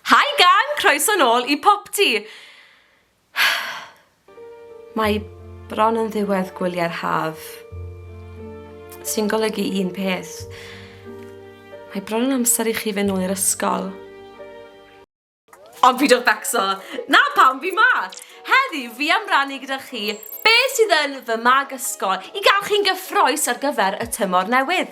Hi gang! Croeso nôl i Popty! Mae bron yn ddiwedd gwyliau'r haf, sy'n golygu un peth. Mae bron yn amser i chi fe nôl i'r ysgol. Ond fi dod becso! Na pam fi ma! Heddi, fi am rannu gyda chi Be sydd yn fy mag ysgol i gael chi'n gyffroes ar gyfer y tymor newydd?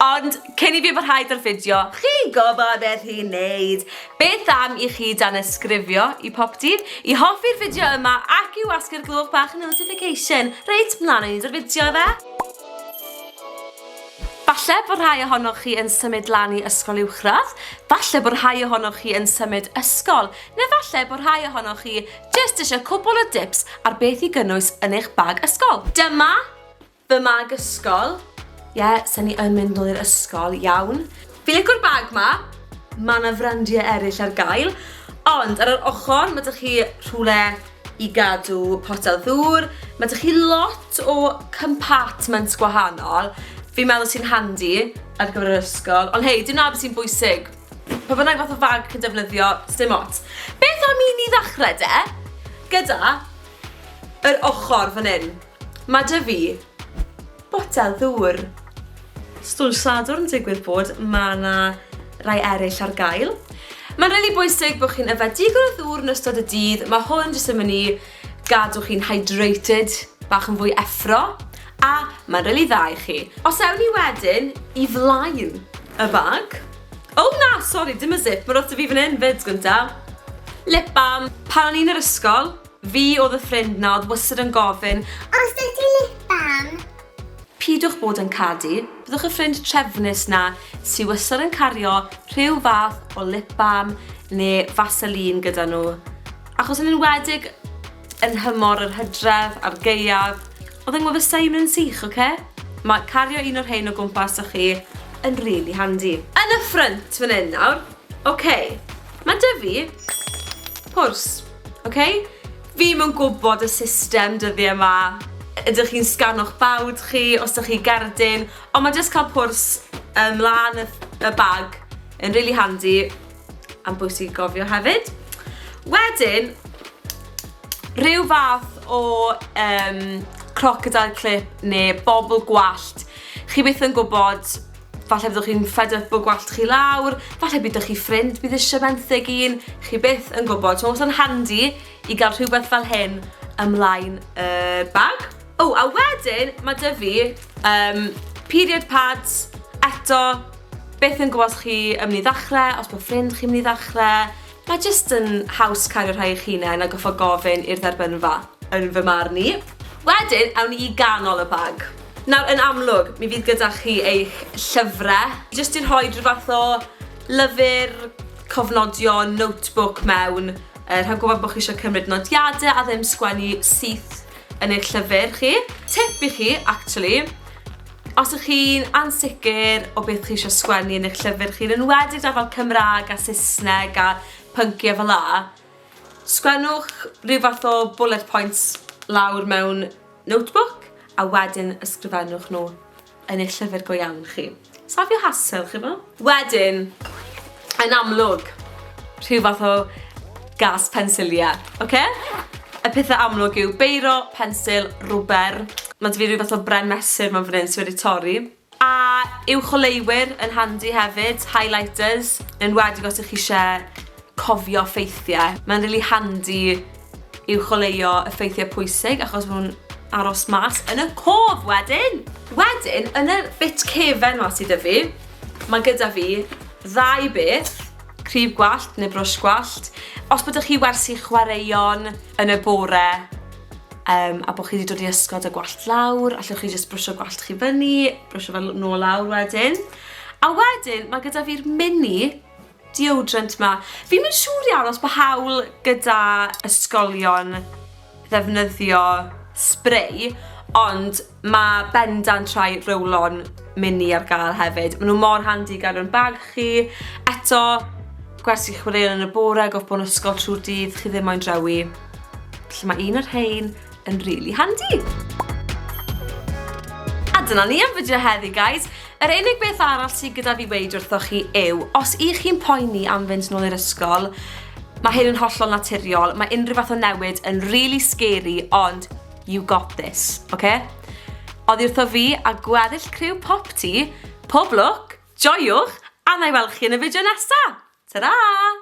Ond cyn i fi barhau da'r fideo, chi'n gwybod beth i wneud! Beth am i chi danysgrifio i Poptîn, i hoffi'r fideo yma ac i wasgu'r gloch bach notification? Reit, mlaen â ni da'r fideo ife? Falle bod rhai ohonoch chi yn symud lan i ysgol uwchradd, falle bod rhai ohonoch chi yn symud ysgol, neu falle bod rhai ohonoch chi Jyst eisiau cwpl o dips ar beth i gynnwys yn eich bag ysgol. Dyma fy mag ysgol. Ie, yeah, sy'n ni yn mynd nôl i'r ysgol, iawn. Fi licwr bag ma. Mae yna frandiau eraill ar gael. Ond ar yr ochr, mae dych chi rhywle i gadw potel ddŵr. Mae dych chi lot o compartments gwahanol. Fi'n meddwl sy'n handi ar gyfer yr ysgol. Ond hei, dim na beth sy'n bwysig. Pa bynnag fath o fag chi'n defnyddio, sdim ots. Beth am i ni ddechrau de? Gyda yr ochr fan hyn. Mae dy fi botel ddŵr. Stwll Sadwrn digwydd bod, mae yna rai eraill ar gael. Mae'n rili really bwysig bod chi'n yfed digon o ddŵr yn ystod y dydd, mae hwn jyst yn mynd i Gadw chi'n hydrated, bach yn fwy effro, a mae'n rili dda i chi. Os ewn ni wedyn i flaen y bag. O na, sori, dim y zip, mae rwbeth 'da fi fan hyn 'fyd, gynta'. Lip balm. Pan o'n i'n yr ysgol, fi oedd y ffrind 'na oedd wastad yn gofyn, Oes 'da ti lip balm? Pidwch bod yn cadi, byddwch y ffrind trefnus 'na sy wastad yn cario rhyw fath o lip balm neu Vaseline gyda nhw. Achos yn enwedig yn nhymor yr hydref a'r gaeaf, oedd yng ngwefusau i'n mynd yn sych, oce? Mae cario un o'r rhein o gwmpas 'da chi yn rili handi. Yn y ffrynt fan hyn nawr, oce, mae 'da fi pwrs, oce? Fi ddim yn gwybod y system dyddiau 'ma, ydych chi'n sgano'ch bawd chi os 'da chi gerdyn, ond mae jyst cael pwrs ymlaen y bag yn rili handi. Am bwysig i gofio hefyd. Wedyn, rhyw fath o um, crocodile clip neu bobl gwallt. Chi beth yn gwybod, falle byddwch chi'n fed up o gwallt chi lawr, falle byddwch chi ffrind bydd eisiau benthyg un, chi beth yn gwybod. So, os yn handi i gael rhywbeth fel hyn ymlaen y bag. O, a wedyn mae dy fi um, period pads, eto, beth yn gwybod chi yn mynd i ddechrau, os bod ffrind chi'n mynd i ddechrau, mae jyst yn haws cario rhai eich hunain a goffo gofyn i'r dderbynfa, yn fy marn i. Wedyn, awn ni i ganol y bag. Nawr, yn amlwg, mi fydd gyda chi eich llyfrau. Jyst i rhoi rhyw fath o lyfr, cofnodion, notebook mewn, er, rhaid gwybod bod chi eisiau cymryd nodiadau a ddim sgwennu syth yn eich llyfr chi. Tip i chi, actually, os ych chi'n ansicr o beth chi eisiau sgwennu yn eich llyfr chi, yn enwedig da fel Cymraeg a Saesneg a pynciau fel la, sgwennwch rhyw fath o bullet points lawr mewn notebook a wedyn ysgrifennwch nhw. yn eich llyfr go iawn chi. Safio hasel, chi bo? Wedyn, yn amlwg, rhyw fath o gas pensilia, oce? Okay? Y pethau amlwg yw beiro, pensil, rwber. Mae dy fi rhyw fath o bren mesur mewn fan hyn sydd wedi torri. A yw choleiwyr yn handi hefyd, highlighters, yn wedi os ych chi eisiau cofio ffeithiau. Mae'n really handi yw choleuo effeithiau pwysig achos maen nhw'n aros mas yn y cof wedyn! Wedyn, yn y bit cefen ma sydd 'da fi, mae gyda fi ddau beth, crib gwallt neu brwsh gwallt. Os bod 'da chi wersi chwaraeon yn y bore um, a bod chi wedi dod i ysgol da gwallt lawr, allwch chi jyst brwsio gwallt chi fyny, brwsio fel nôl lawr wedyn. A wedyn, mae gyda fi'r mini deodorant ma. Fi'm yn siŵr iawn os bo hawl gyda ysgolion ddefnyddio spray, ond ma' bendant rhai roll-on mini ar gael hefyd. Ma' nhw mor handi i gael nhw'n bag chi. Eto, gwers i chi chwaraeon yn y bore, gorffbo'n ysgol trwy'r dydd, chi ddim moyn drewi. Felly mae un o'r rhein yn rili handi. A dyna ni am fideo heddi, guys. Yr unig beth arall sydd gyda fi weid wrthoch chi yw, os i chi'n poeni am fynd nôl i'r ysgol, mae hyn yn hollol naturiol, mae unrhyw fath o newid yn really scary, ond you got this, oce? Okay? Oddi wrtho fi a gweddill criw pop ti, pob lwc, joiwch, a na i weld chi yn y fideo nesa! Ta-ra!